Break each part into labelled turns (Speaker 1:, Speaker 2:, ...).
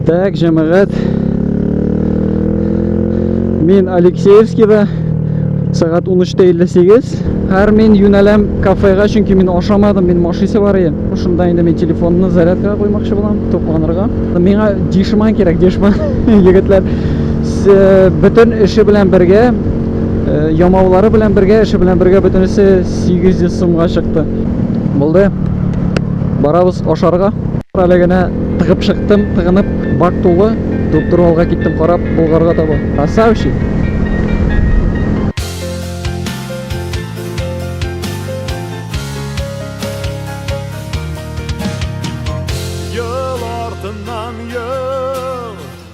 Speaker 1: Так, җәмәгать. Мин Алексеевскида сәгать 13:58. Һәр мин юнәләм кафега, чөнки мин ашамадым, мин машисе бар иде. Шунда инде мин телефонны зарядкага куймакчы булам, тукланырга. Миңа дишман кирәк, дишман егетләр. Бөтен эше белән бергә э, ямаулары белән бергә эше белән бергә бөтенесе 800 сумга чыкты булды барабыз ашарга әле генә тыгып чыктым тыгынып бак тулы туп-туры алга киттем карап болгарга таба красавчик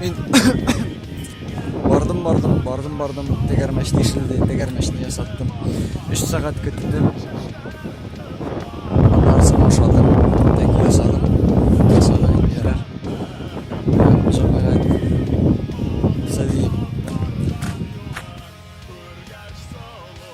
Speaker 1: Мин бардым, бардым, бардым, бардым, тегәрмәч тишелде, тегәрмәчне ясаттым. 3 сәгать көттем. Аннарсы башладым, тек ясадым. Ясадым, ярар. Җәмәгать. Сәлим.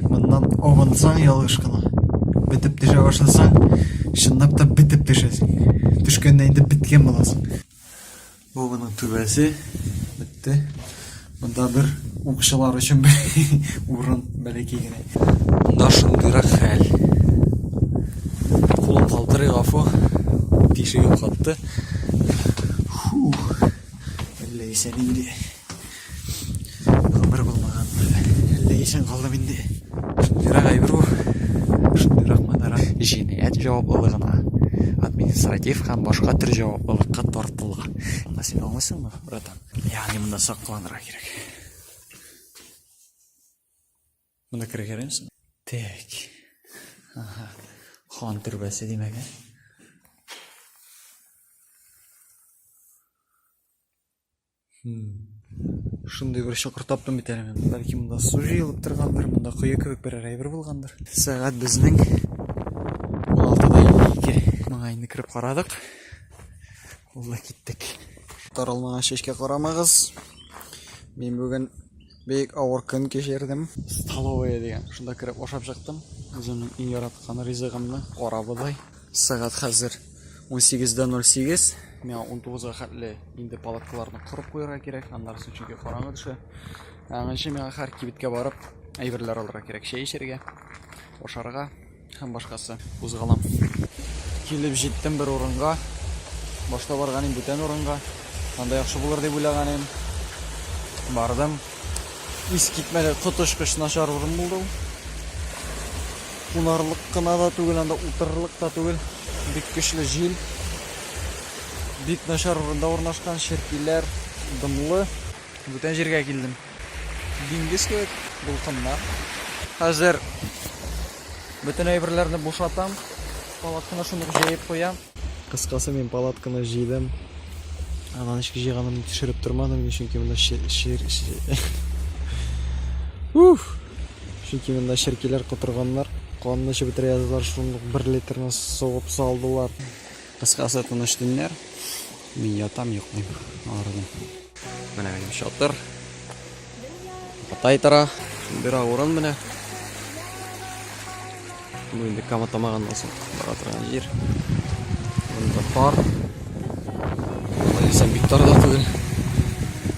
Speaker 1: Моннан абынсаң ялгыш кына. Бетеп төшә башласаң, чынлап та бетеп төшәсең. Төшкәндә инде беткән буласың. Бу моның түбәсе. Бетте. Монда бер укчылар өчен бер урын бәләкәй генә. Монда шундыйрак хәл. Кулым калтырый, гафу. Тишегем катты. Фу. Әллә исән инде. Гомер булмаган бер. Әллә исән калдым инде. Шундыйрак әйбер бу. Шундыйрак манара. Җинаять җаваплылыгына, административ һәм башка төр җаваплылыкка тартыла. Аны син аңлыйсыңмы, братан? Ягъни монда сакланырга кирәк. Монда керергә ярыймсың? Так. Ага. Хан төрбәсе димәк, ә? Шундый бер чокыр таптым бит әле мен. Бәлки монда су җыелып торгандыр, монда кое кебек бер әйбер булгандыр. Сәгать безнең 16:52. Моңа инде кереп карадык. Ул да киттек. Таралмаган чәчкә карамагыз. Мин бүген Бик авыр көн кичердем. Столовая дигән. Шунда кереп ашап чыктым. Үземнең иң яраткан ризыгымны, карабодай. Сәгать хәзер 18:08. Миңа 19-га хәтле инде палаткаларны корып куярга кирәк. Аннары соң чөнки караңгы төшә. Аңынчы миңа һәр кибеткә барып, әйберләр алырга кирәк. Чәй эчәргә, ашарга. Һәм башкасы. Кузгалам. Килеп җиттем бер урынга. Башта барган идем бүтән урынга. Анда яхшы булыр дип уйлаган идем. Бардым. Ис китмәде, коточкыч начар урын булды ул. Кунарлык кына да түгел, анда утырырлык та түгел. Бик көчле җил. Бик начар урында урнашкан, черкиләр, дымлы. Бүтән җиргә килдем. Диңгез кебек дулкыннар. Хәзер бөтен әйберләрне бушатам, палатканы шундук җәеп куям. Кыскасы, мин палатканы җыйдым. Ана ничек җыйганын төшереп тормадым, чөнки монда шир Уф! Чөнки монда черкиләр котырганнар, канны эчеп бетерә яздылар, шундук бер литрны сугып салдылар. Кыскасы, тыныч төннәр. Мин ятам, йоклыйм, арыдым. Менә минем чатыр. Кытай тора. Бира урын менә. Бу инде кама тамагыннан соң бара торган җир. Монда пар. Алайсам бик тар да түгел.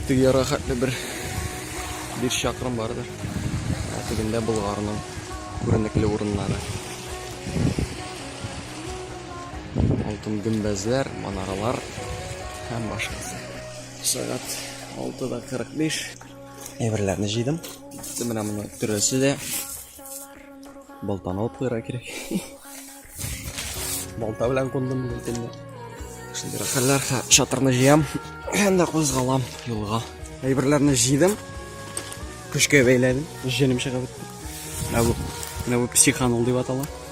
Speaker 1: Теге яра хәтле бер бир чакрым бардыр. Тегендә Болгарның күренекле урыннары. Алтын гөмбәзләр, манаралар һәм башкасы. Сәгать 6:45 әйберләрне җыйдым. Китте менә моны төрәсе дә. Балтаны алып куярга кирәк. Балта белән кундым бу итемне. Шундый хәлләр, чатырны җыям һәм дә кузгалам юлга. Әйберләрне җыйдым. Көчкә бәйләдем. Җенем чыгып бетте. Менә бу, менә бу психанул дип атала.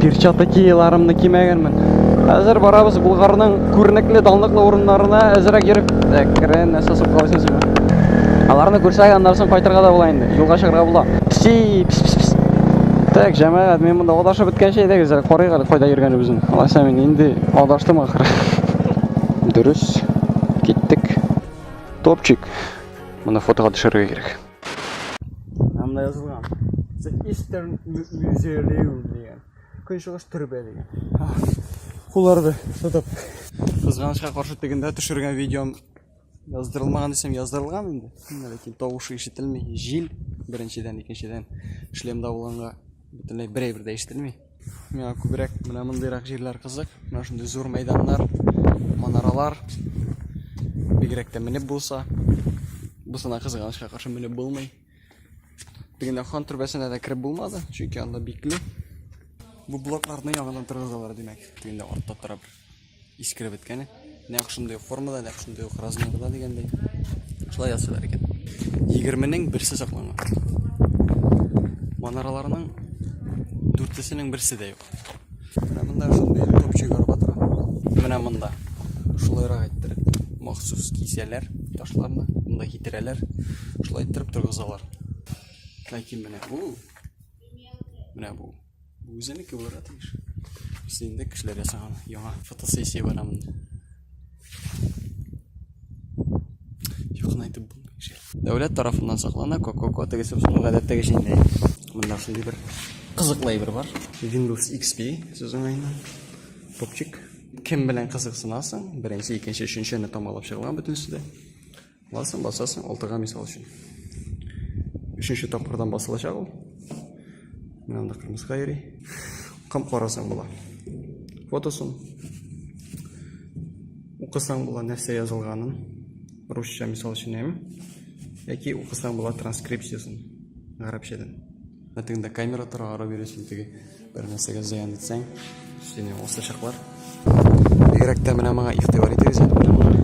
Speaker 1: Перчатокиларымны кимәгәнмен. Хәзер барабыз Булгарның күренекле данлыклы урыннарына әзрәк йөреп, әкрен нәрсә сукалыйсың син. Аларны күрсәк, аннан соң кайтырга да була инде. Юлга чыгарга була. Пси, пс пс пс. Так, җәмәгать, мин монда адашып беткәнче әйдәгез, карыйк әле кайда йөргәнебезне. Алайса мин инде адаштым ахры. Дөрес. Киттек. Топчик. Моны фотога төшерергә кирәк. Анда язылган. The Eastern Museum дигән. Көнчыгыш төрбә дигән. Кулларды тотып. Кызганычка каршы тегендә төшергән видеом яздырылмаган дисем яздырылган инде. Ләкин тавышы ишетелми. Җил беренчедән, икенчедән шлемда булганга бөтенләй берәй бер дә ишетелми. Миңа күбрәк менә мондыйрак җирләр кызык. Менә шундый зур мәйданнар, манаралар. Бигрәк тә менеп булса. Бусана кызганычка каршы менеп булмый. Бигенә хан төрбәсенә дә кереп булмады, чөнки анда бикле. Бу блокларны яңадан торгызалар, димәк, тегендә артта тора бер. Искереп беткәне. Нәкъ шундый ук формада, нәкъ шундый ук размерда дигәндәй. Шулай ясыйлар икән. 20-нең берсе сакланган. Манараларның дүртесенең берсе дә юк. Менә монда шундый топчик арба тора. Менә монда. Шулайрак әйттереп, махсус кисәләр ташларны, монда китерәләр. Шулай иттереп торгызалар. Ләкин менә бу, менә бу Бу үзенеке булырга тиеш. Без инде кешеләр ясаган яңа фотосессия бар монда. Якынайтып булмый шул. Дәүләт тарафыннан саклана Coco тегесе шул гадәттәгечә инде. Монда шундый бер кызыклы әйбер бар. Windows XP сүз уңаеннан. Топчик. Кем белән кызыксынасың? Беренче, икенче, өченчене тамалап чыгылган бөтенесе дә. Басасың, басасың, алтыга мисал өчен. Өченче тапкырдан басылачак ул. Менә анда кырмыска йөри. Кам карасаң була. Фотосын. Укысаң була нәрсә язылганын. Русча мисал өчен әм. Яки укысаң була транскрипциясын. Гарәпчәдән. Мәтеңдә камера тора, ара бирә теге бер нәрсәгә зыян итсәң, сине осачаклар. Бигрәк тә менә моңа игътибар итегез әле менә моңа.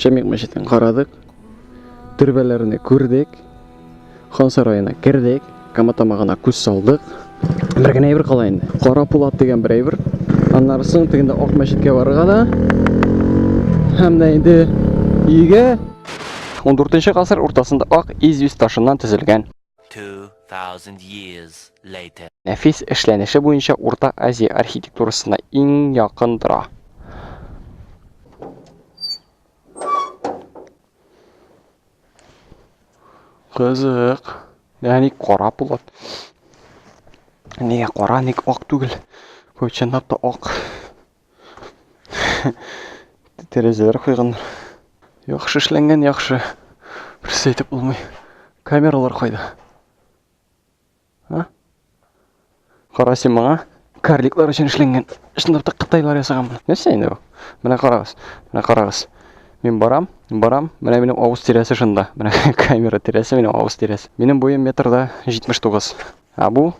Speaker 1: Шәмик мәчетен карадык. Төрбәләрне күрдек. Хан сараена кердек. Каматамагына күз салдык. Бер генә әйбер кала инде. Кара пулат дигән бер әйбер. Аннары соң тегендә Ак мәчеткә барырга да. Һәм дә инде өйгә 14 гасыр уртасында ак изюс ташыннан төзелгән 2000 years later. Нәфис эшләнеше буенча Урта Азия архитектурасына иң якын тора. Кызык. Ә ник кара булат? Нигә кара, ник ак түгел? Бу чынлап та ак. Тәрәзәләр куйганнар. Яхшы эшләнгән, яхшы. Берсе әйтеп булмый. Камералар кайда? А? Кара син моңа. Карликлар өчен эшләнгән. Шунда так кытайлар ясаган моны. Нәрсә инде бу? Менә карагыз. Менә карагыз. Мин барам, барам. Менә минем авыз тирәсе шунда. Менә камера тирәсе минем авыз тирәсе. Минем буем метрда 79. А бу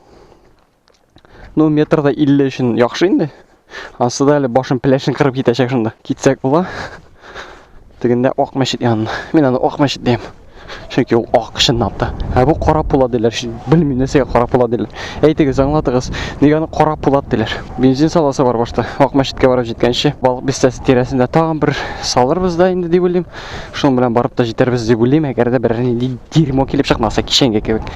Speaker 1: Ну, метрда 50 өчен яхшы инде. Асы да әле башын пеләшен кырып китәчәк шунда. Китсәк була. Тегендә Ак мәчет янына. Мин аны Ак мәчет дим. Чөнки ул ак чынлап та. Ә бу кара пула диләр. Белмим нәрсәгә кара пула диләр. Әйтегез, аңлатыгыз. Нигә аны кара пулат диләр? Бензин саласы бар башта. Ак мәчеткә барып җиткәнче, балык бистәсе тирәсендә тагын бер салырбыз да инде дип уйлыйм. Шуның белән барып та җитәрбез дип уйлыйм, әгәр дә берәр нинди дерьмо килеп чыкмаса кичәнге кебек.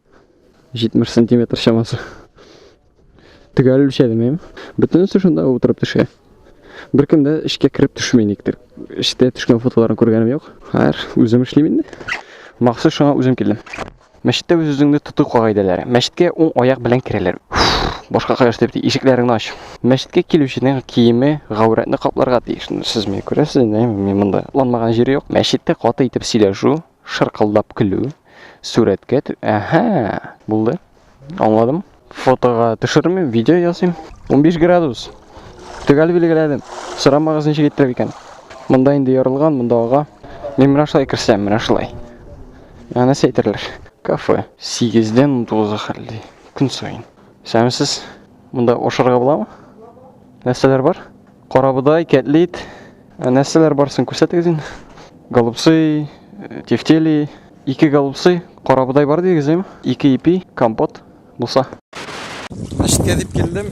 Speaker 1: 70 сантиметр чамасы. Төгәл үлчәдем ем. Бөтенесе шунда утырып төшә. Бер кемдә эшкә кереп төшми никтер. Эштә төшкән фотоларын күргәнем юк. Хәер, үзем эшлим инде. Махсус шуңа үзем килдем. Мәчеттә үз үзеңне тоту кагыйдәләре. Мәчеткә уң аяк белән керәләр. Башка кая дип ишекләреңне ач. Мәчеткә килүченең киеме гаурәтне капларга тиеш. Сез мені күрәсез инде, мин монда. Ланмаган җире юк. Мәчеттә каты итеп сөйләшү, Шыркылдап көлү. Сурәткә тө... Әһә, булды. Аңладым. Фотога төшермим, видео ясыйм. 15 градус. Төгәл билгеләдем. Сорамагыз ничек иттереп икән. Монда инде ярылган, монда ага. Мин менә шулай керсәм, менә шулай. Ә нәрсә әйтерләр? Кафе. 8 дән 19 хәлли. Көн саен. Исәнмесез. Монда ашарга буламы? Нәрсәләр бар? Карабодай, кәтлит. Ә нәрсәләр барсын күрсәтегез инде. Голубцы, э, тефтели, ике голубцы, карабодай бар дигез, әйме? Ике ипи, компот булса. Мәчеткә дип килдем,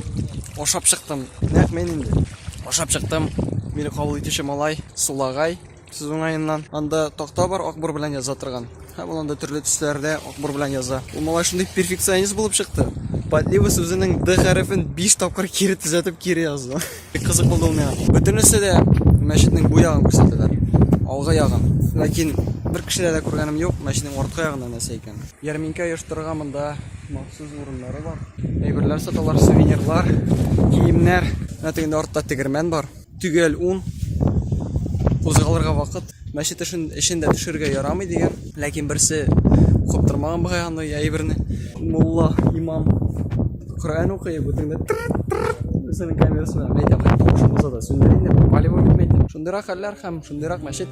Speaker 1: ашап чыктым. Нәкъ мен инде. Ашап чыктым. Мине кабул итүче малай, Сулагай. Сез уңаеннан анда такта бар акбур белән яза торган. Һәм ул анда төрле төсләрдә акбур белән яза. Ул малай шундый перфекционист булып чыкты. Подлива сүзенең д хәрефен 5 тапкыр кире төзәтеп кире язды. Бик кызык булды ул миңа. Бөтенесе дә мәчетнең бу ягын күрсәтәләр. Алгы ягын. Ләкин бер кешедә дә күргәнем юк, мәчетнең арткы ягында нәрсә икән. Ярминкә оештырырга монда махсус урыннары бар. Әйберләр саталар, сувенирлар, киемнәр. Менә тегендә артта тегермән бар. Төгәл ун. Кузгалырга вакыт. Мәчет эшен эчен дә төшерергә ярамый дигән. Ләкин берсе каптырмаган бугай аны я әйберне. Мулла, имам Коръән укый, бу тегендә тыррт-тыррт үзенең камерасына мәйтәм хәтта шуңгызада сүндер инде, попали вы в метель. Шундыйрак хәлләр һәм шундыйрак мәчет.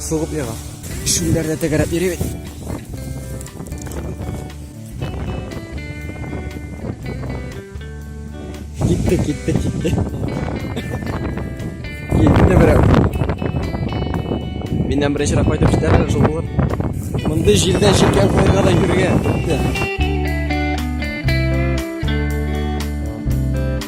Speaker 1: Сугып яга. Шүлләр дә тәгәрәп йөри бит. Китте, китте, китте. Китте берәү. Миннән беренчерәк кайтып җитәрләр шул булыр. Мондый җирдә җилкән куярга да йөргә. Китте.